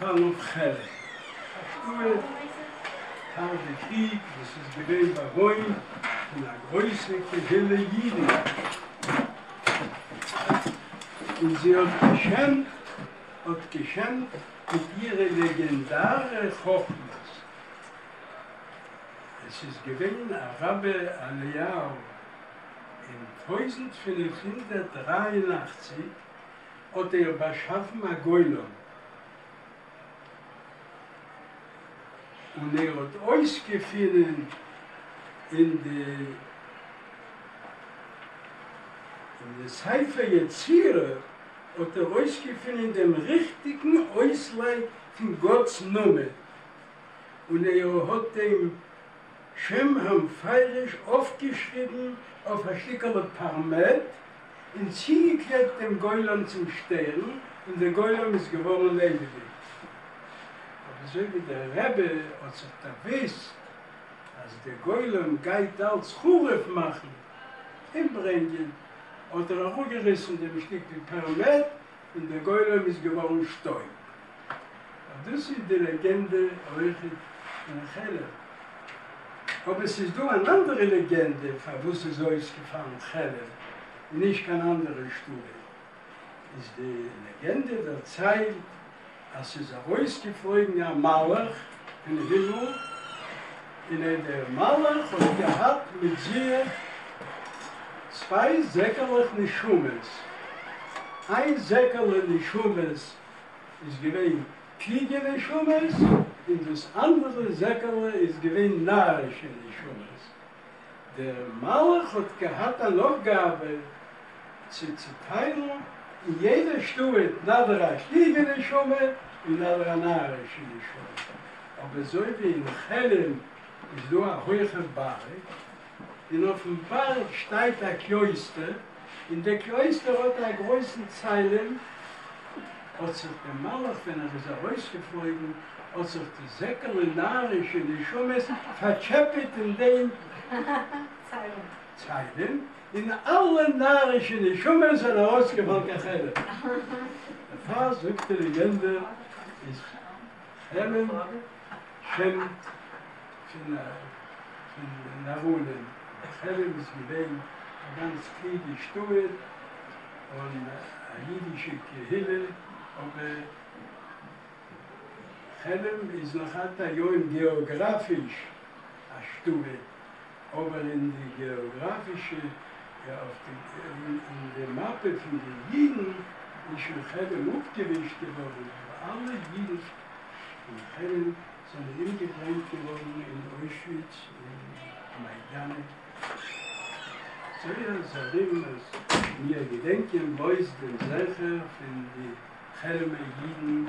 חלב חלב, א שטוה פאר די קריג וואס איז געווען באוואוינט פון א גרויסע קהילה אידן, און זי האט געשעמט האט געשעמט מיט אירע לעגענדארע חכמות. עס איז געווען א רבי אליהו אין טויזנט פֿינף הונדערט דרײַ און אַכציק, האט ער באשאפן א גולם, און ער האט אויסגעפינען אין די אין די ספר יצירה האט ער אויסגעפינען דעם ריכטיגן אויסלייג פון גאט'ס נאמען, און ער האט דעם. שם האבן פייריש אויפגעשריבן אויף א שטיקעלע פארמעט און צוגעקלעבט דעם גולם צום שטערן און דער גולם איז געווארן לעבעדיג. אבער אזוי ווי דער רבי האט זיך דערוואוסט אז דער גולם גייט אלץ חרוב מאכן, אומברענגען, האט ער אראפגעריסן דעם שטיקל פארמעט און דער גולם איז געווארן שטויב. אט דאס איז די לעגענדע אויך אין חלב. אבער ס'איז דא אן אנדערע לעגענדע פארוואס איז אויסגעפאלן חלב און נישט קיין אנדערע שטודיע. איז די לעגענדע דערציילט אז ס'איז ארויסגעפלויגן א מלאך אין הימל, און אט דער מלאך האט געהאט מיט זיך צוויי זעקעלעך נשמות, איין זעקעלע נשמות איז געווען קלוגע נשמות, און דאס אנדערע זעקעלע איז געווען נארישע נשמות. דער מלך האט געהאט אן אויפגאבע צו צוטיילן אין יעדע שטאט נאדער א קלוגע נשמה און נאדער א נארישע נשמה, אבער אזוי ווי אין חרם איז דא א הויכע בארג און אויפן בארג שטייט א קלויסטער, און דער קלויסטער האט א גרויסן ציילעם, האט זיך דער מלאך ווען ער איז ארויסגעפלויגן, האט זיך די זעקעלע נארישע נשמות פארטשעפעט אין דעם ציילעם, און אלע נארישע נשמות זענען ארויסגעפאלן קיין חדר, דערפאר זאגט די לעגענדע, איז חמם שם. פון נאראלען חרם איז געווען א גאנץ קליגע שטועל און א אידישע קהילה, אבער חרם איז נאך עד היום געאגראפיש א שטועל, אבער אין די געאגראפישע אין די מאפע פון די אידן איז שוין חרם אפגעווישט געווארן, אלע אידן אין חרם זענען אומגעברענגט געווארן אין אוישוויץ און מיידאנע. זייער זרים אז מיר געדענקען בלויז דעם זכר פון די חרמ'ע אידן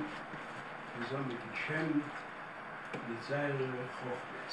וואס האבן געשעמט מיט זייערע חכמות.